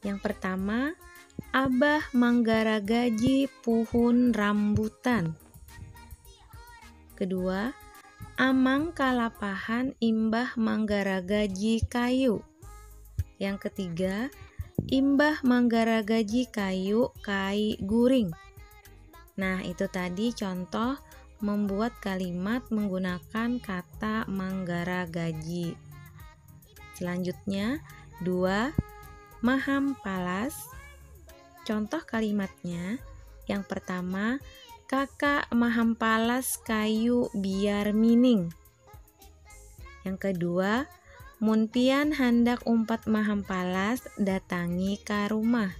Yang pertama, Abah manggaragaji puhun rambutan. Kedua, Amang kalapahan imbah manggaragaji kayu. Yang ketiga, imbah manggaragaji kayu kai guring. Nah, itu tadi contoh membuat kalimat menggunakan kata manggaragaji. Selanjutnya, dua maham palas. Contoh kalimatnya, yang pertama, kakak maham palas kayu biar mining. Yang kedua, mun pian handak umpat maham palas, datangi ka rumah.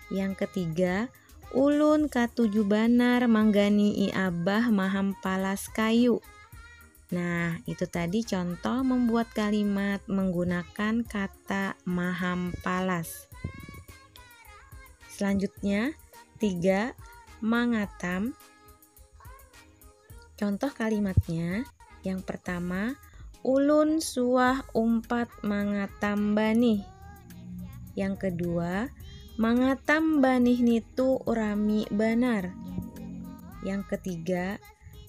Yang ketiga, ulun katuju banar manggani'i abah maham palas kayu. Nah, itu tadi contoh membuat kalimat menggunakan kata mahampalas. Selanjutnya, tiga mangatam. Contoh kalimatnya yang pertama, ulun suah umpat mangatam banih. Yang kedua, mangatam banih nitu rami banar. Yang ketiga,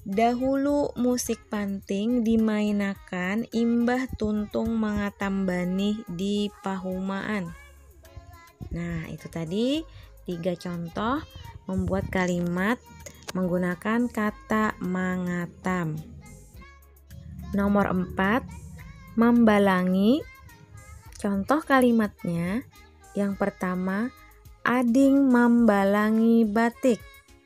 Dahulu musik panting dimainakan imbah tuntung mangatam banih di pahumaan. Nah, itu tadi tiga contoh membuat kalimat menggunakan kata mangatam. Nomor empat, membalangi. Contoh kalimatnya yang pertama, Ading membalangi batik.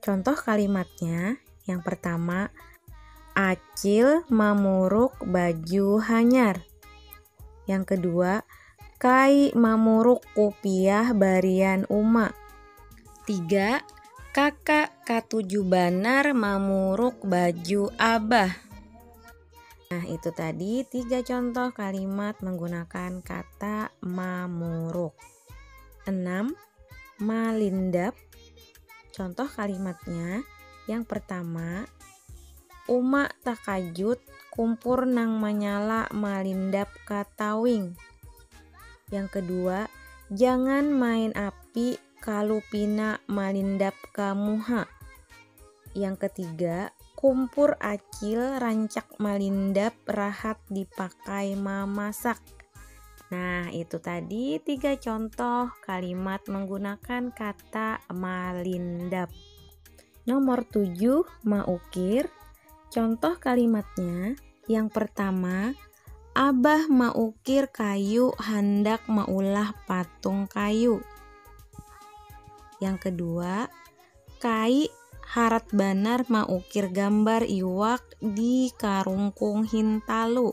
Contoh kalimatnya yang pertama, Acil mamuruk baju hanyar. Yang kedua, Kai mamuruk kupiah barian uma. Tiga, Kakak katuju banar mamuruk baju abah. Nah, itu tadi tiga contoh kalimat menggunakan kata mamuruk. Enam, malindap. Contoh kalimatnya yang pertama, Uma takajut kumpur nang manyala malindap ka tawing. Yang kedua, jangan main api kalu pina malindap ka muha. Yang ketiga, kumpur acil rancak malindap rahat dipakai mamasak. Nah, itu tadi tiga contoh kalimat menggunakan kata malindap. Nomor tujuh, maukir. Contoh kalimatnya yang pertama, Abah maukir kayu handak maulah patung kayu. Yang kedua, Kai harat banar maukir gambar iwak di karungkung hintalu.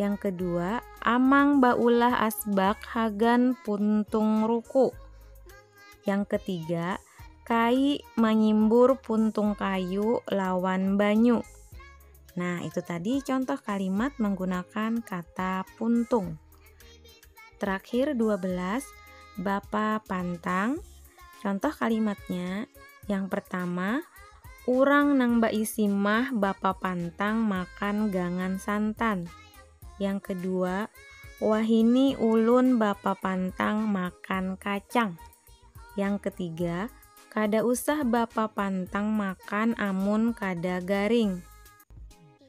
Yang kedua, amang baulah asbak hagan puntung ruku. Yang ketiga, kai manyimbur puntung kayu lawan banyu. Nah, itu tadi contoh kalimat menggunakan kata puntung. Terakhir 12 Bapa pantang Contoh kalimatnya Yang pertama Urang nang baisi mah bapa pantang makan gangan santan Yang kedua Wahini ulun bapa pantang makan kacang Yang ketiga Kada usah bapa pantang makan amun kada garing